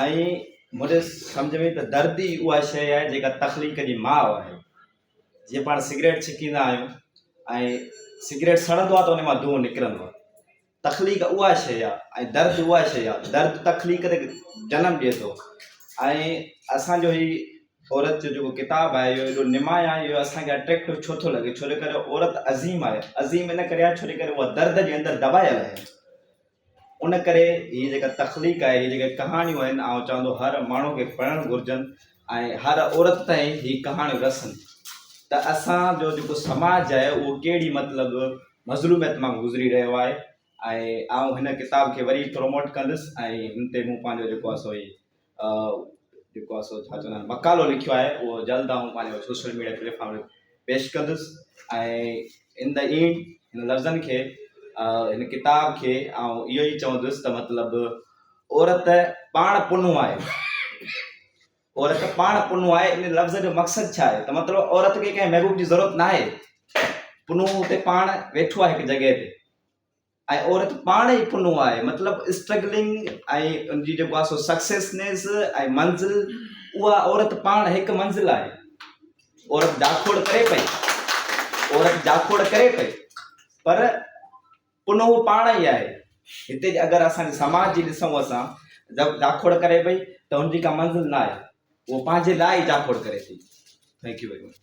ائين منهنجي سمجهه ۾ ته درد ئي اها شيء آهي جيڪا تخليق جي ماء آهي. جيئن پاڻ سگريٽ ڇڪيندا آهيون ۽ سگريٽ سڙندو آهي ته ان مان دونهون نڪرندو آهي. تخليق اها شيء آهي ۽ درد اها شيء آهي. درد تخليق تي جنم ڏئي ٿو ۽ اسان جو هي عورت جو جيڪو ڪتاب آهي اهو ايڏو نمايان آهي اهو اسان کي اٽريڪٽو ڇو ٿو لڳي ڇو جو ڪري عورت عظيم آهي. عظيم ان ڪري آهي ڇو جو ڪري اها درد جي اندر دٻايل آهي. ان ڪري هي جيڪا تخليق آهي، هي جيڪي ڪهاڻيون آهن، آئون چوان ٿو هر ماڻهو کي پڙهڻ گهرجن ۽ هر عورت تائين هي ڪهاڻيون رسن ته اسان جو جيڪو سماج آهي اهو ڪهڙي مطلب مظلوميت مان گذري رهيو آهي ۽ آئون هن ڪتاب کي وري پروموٽ ڪندس ۽ هن تي مون پنهنجو جيڪو آهي سو هي جيڪو آهي سو ڇا چوندا آهن مقالو لکيو آهي اهو جلد آئون پنهنجو سوشل ميڊيا پليٽفارم تي پيش ڪندس ۽ ان دا اينڊ هن لفظن کي هن ڪتاب کي آئون اهو ئي چوندس ته مطلب عورت پاڻ پنو آهي عورت پاڻ پنو آهي ان لفظ جو مقصد ڇا آهي ته مطلب عورت کي ڪنهن محبوب جي ضرورت ناهي پنو هتي پاڻ ويٺو آهي هڪ جڳهه تي ۽ عورت پاڻ ئي پنهون آهي مطلب اسٽرگلنگ ۽ ان جي جيڪو آهي سو سڪسيسنيس ۽ منزل اها عورت پاڻ هڪ منزل آهي عورت جاکوڙ ڪري پئي عورت جاکوڙ ڪري پئي پر پنهون پاڻ ئي آهي هتي اگر اسان جي سماج جي ڏسون اسان جاکوڙ ڪري پئي ته ان جي ڪا منزل نه آهي اهو پنهنجي لاء ئي جاکوڙ ڪري ٿي ٿينڪ يو ويري مچ